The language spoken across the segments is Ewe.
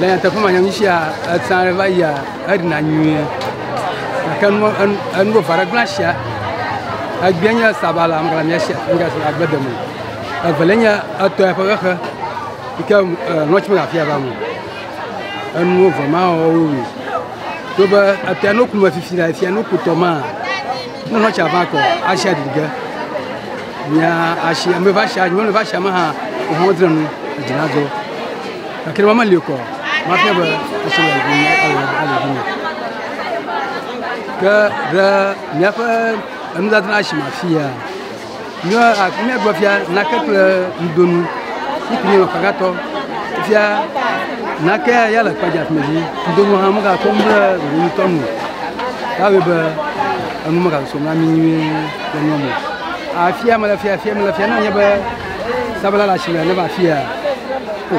Le nyateƒe me nyɔnu sia etsã ɖe va yia eɖina nyuie gake nu enu vava ɖe gblẽ sia egbea nye sabala ŋgla mia sia ŋgla sia agbe deme evele nye etɔ eƒe xexe yi ke nɔtsi me afia va mu enuwo vɔ ma wɔwo wi to be etɔ no ku me fifi la efia no ku tɔ ma Nyɔnua tsa va kɔ asia ɖiɖi ge. Mia asi ame va asia, nyɔnu va asia me hã wohã wodzra nu edzi na dzɔ. Gake ne meli kɔ, mafia be esi le ŋu me ele ele ŋu me. Ke ɖe míaƒe enudzadzra si me afia. Míagblɔ fia nake kple ŋudonu siki nye ɔfagatɔ fia nake ya le kpadza fi dzi ŋudonu hã mega kɔ mble ŋutɔ nu yawe be enu mega so na mi nyuie le nyɔ mo afia mele fia fia mele fia ne nye be sabala le asime ne va fia o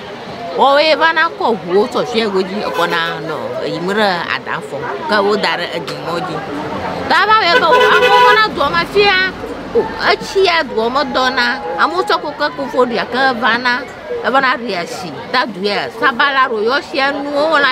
Woawoe va na kɔ ʋuwo tsɔ tsia go dzi ekɔ na nɔ eyim ɖe ada fɔ ke wo da ɖe edzi mɔ dzi. Ta va wɔe be amewo va na dua me fia o etsia dua me dɔ na amewo tsɔ koke koko ɖia ke va na eva na ɖia tsi ta ɖuia sabala ɖo yɔ tsia nuwo la.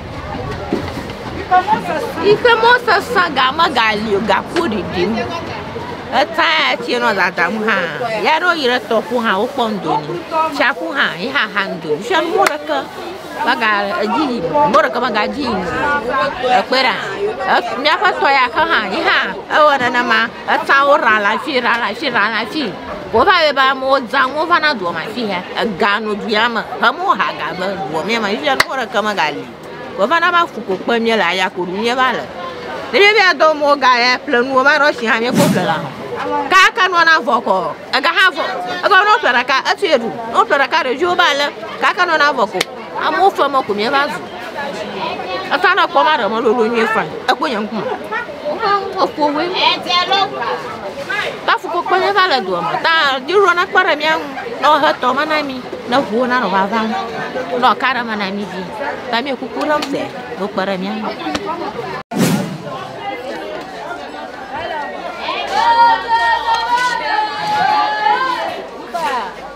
Yi ke mɔ sesẽ ga megali o gaku ɖiɖim. Etã ya tse nɔ dadam hã ya ne woyi ɖe tɔƒo hã wokpɔ ŋdo nu. Tsiaƒu hã ye hã xa ŋdo nu. Fia be mɔ ɖeke mega edzi yim o. Mɔ ɖeke mega dzi yim o. Ekpe ɖa. Ef miaƒe tɔ ya xe hã ye hã ewɔ nenema. Etawo ra le afi, ra le afi, ra le afi. Wova be be amewo zã, amewo va na dua me afi ya. Ega nɔ dua me. Amewo ha ga be dua me ya me. Fifia nukpɔ ɖeke me gali o. Vɔ va na va fu ko kpe mía le aya ko ɖu mía va le. Ne mía be adɔ mo ga ya ƒle nuwo va ɖɔ shi hã mía ko ƒle la. Kaka nua na vɔ kɔ. Ega hã vɔ. Ega nɔ ƒle ɖeka etu ye ɖu. Nɔ ƒle ɖeka ɖeviwo va le. Kaka nua na vɔ ko. Amewo fɔ mɔ ko míeva zu. Eka na kpɔ ma ɖe mɔlolo nyuie fan. Ekpɔ nye ŋkume. Ekpɔ we. Ta fuko kpɔ míeva le doa me. Ta diro na kpɔ ɖe mía ŋu. Ne wohe tɔ ma na mi. Ne ʋuwo na nɔ vava ŋu. Ne ɔka ɖe ma na mi vi. Ta mi kuku ɖe ŋu se. Do kpɔ ɖe mía ŋu.